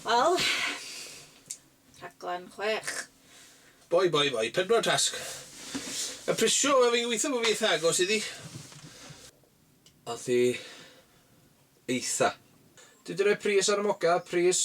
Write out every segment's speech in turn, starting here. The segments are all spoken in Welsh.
Wel, rhaglen chwech. Boi, boi, boi, pedwar tasg. A prisio, wel fi'n gweithio bod fi eitha agos iddi. Ath hi eitha. Dwi 'di rhoi pris ar y mock-up, pris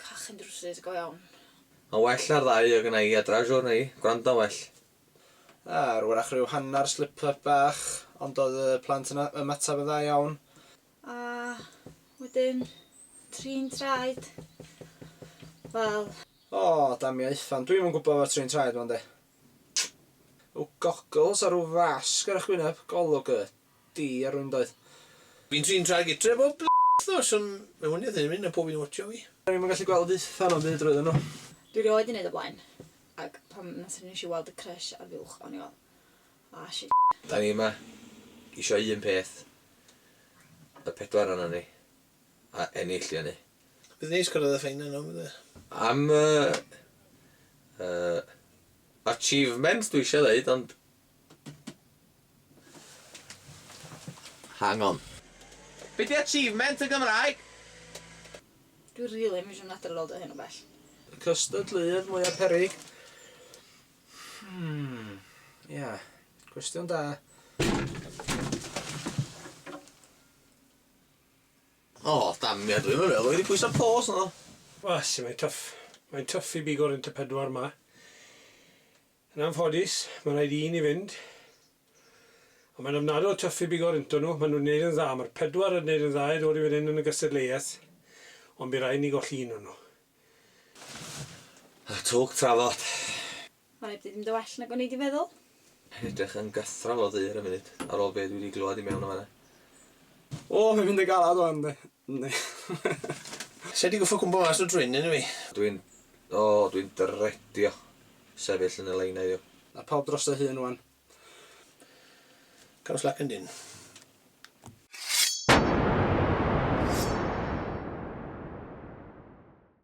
Cachu drwsus go iawn. Mae'n well na'r ddau o gynna i a dra siwr neu gwrando'n well. Ar wrach ryw hannar slip up bach ond doedd y plant yn ymateb yn dda iawn. A wedyn trin traed wel. O damia Ifan dwi'm yn gwybod efo'r trin traed ma de. Rhyw goggles a rhyw fasg ar eich wyneb, golwg y. Di a rwy'n doeth. Fi'n trin traed gytre bob bl nos ond mae hwn eitha ddifyr, mae pob un watcho fi. Do'n i'm yn gallu gweld y ffan ond fe droeodd nhw. Dwi rioed 'di neud o blaen ac pan nathon ni neshi weld y crush ar fuwch o'n i fel ah shit. Da ni yma isio un peth, y pedwar onan ni, a ennill di hynny. Bydd neis cyrraedd y ffeinal nawr bydd? Am y yy achievement dwi isio ddeud ond Hang on. Be di achievement yn Gymraeg? Dwi rili ddim isio mynd adra ar ôl dod o hyn o bell. Cystadleuaeth mwya peryg? Hmm, ia. Cwestiwn da. O, damia, dwi'm yn meddwl i fi pwyso pause naddo. Wasi, mae'n tuff. Mae'n tuff i bigo'r un te pedwar 'ma. Yn anffodus, mae'n rhaid i ni fynd. Ond mae'n ofnadw o twff i bigo rynto nhw, maen nhw'n wneud yn dda, mae'r pedwar yn wneud yn dda i ddod i fan hyn yn y gystadleuaeth, ond bu rhaid ni golli un o nhw. A twg trafod. Mae'n rhaid bod hi 'di mynd yn well nag o'n i 'di feddwl. Yn edrych yn gythral o ddu ar y funud, ar ôl be' dwi 'di glywed i mewn yn fan 'na. O, mae'n mynd yn galad wan, yndi? Yndi. Sa i 'di goffod cwmpo mas o'r dwyn, yn dw i? Dwi'n, o, dwi'n dredio. sefyll yn y lein heddiw. Ma pawb dros ei hun wan. Caws lac yn dyn.